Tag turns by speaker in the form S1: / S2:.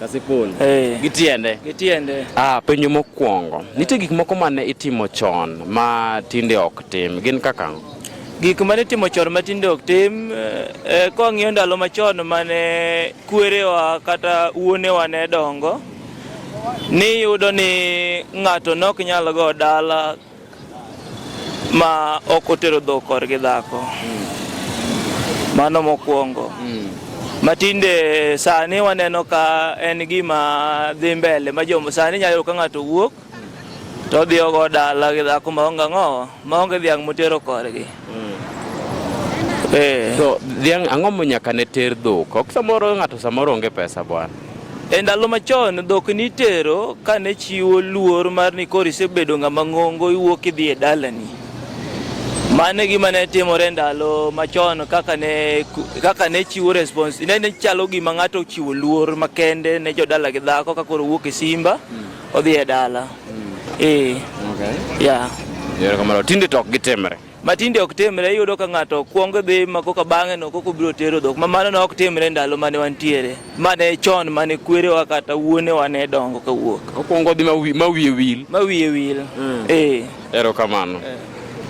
S1: Kasipul. Eh. Gi tiende. Gi tiende. Ah, penjo mokwongo.
S2: Nitie gik moko ma ne itimo chon ma tinde ok tim. Gin kaka ang'o? Gik ma ne
S1: itimo chon ma tinde ok tim, eh, eh, ka wang'iyo ndalo machon ma ne kwerewa kata wuonewa ne dongo, niyudo ni ng'ato ne ok nyal go dala ma ok otero dhok korgi dhako mm. mano mokwongo mm. matinde sani waneno ka en gima dhi mbele ma jomo sani nyalo yudo ka ng'ato wuok to odhi ogo dala gi dhako maonge ang'owa maonge dhiang' motero korgi Eh.
S2: So dhiang' ang'o mo nyaka ne ter dhok? Ok samoro ng'ato samoro onge pesa bwana. E ndalo
S1: machon dhok nitero ka ne chiwo luor mar ni koro isebedo ng'ama ng'ongo iwuok idhi e dalani. Mano e gima ne timore ndalo machon kaka ne kaka ne chiwo response ne, ne chalo gima ng'ato chiwo luor makende ne jodala gi dhako ka koro wuok e simba mm. odhi e dala. Eh. Okay. Yeah. Yore kamano
S2: tinde to ok gitimre. Ma tinde ok timre
S1: iyudo ka ng'ato kwongo dhi ma koka bang'e no koka obiro tero dhok. Ma mano ne ok timre ndalo mane wantiere. Mane chon mane kwerewa kata wuonewa ne dongo ka wuok. Okwongo
S2: dhi
S1: ma wiye
S2: wil. Ma wiye wil. Mm. Eh.
S1: Ero
S2: kamano. Eh.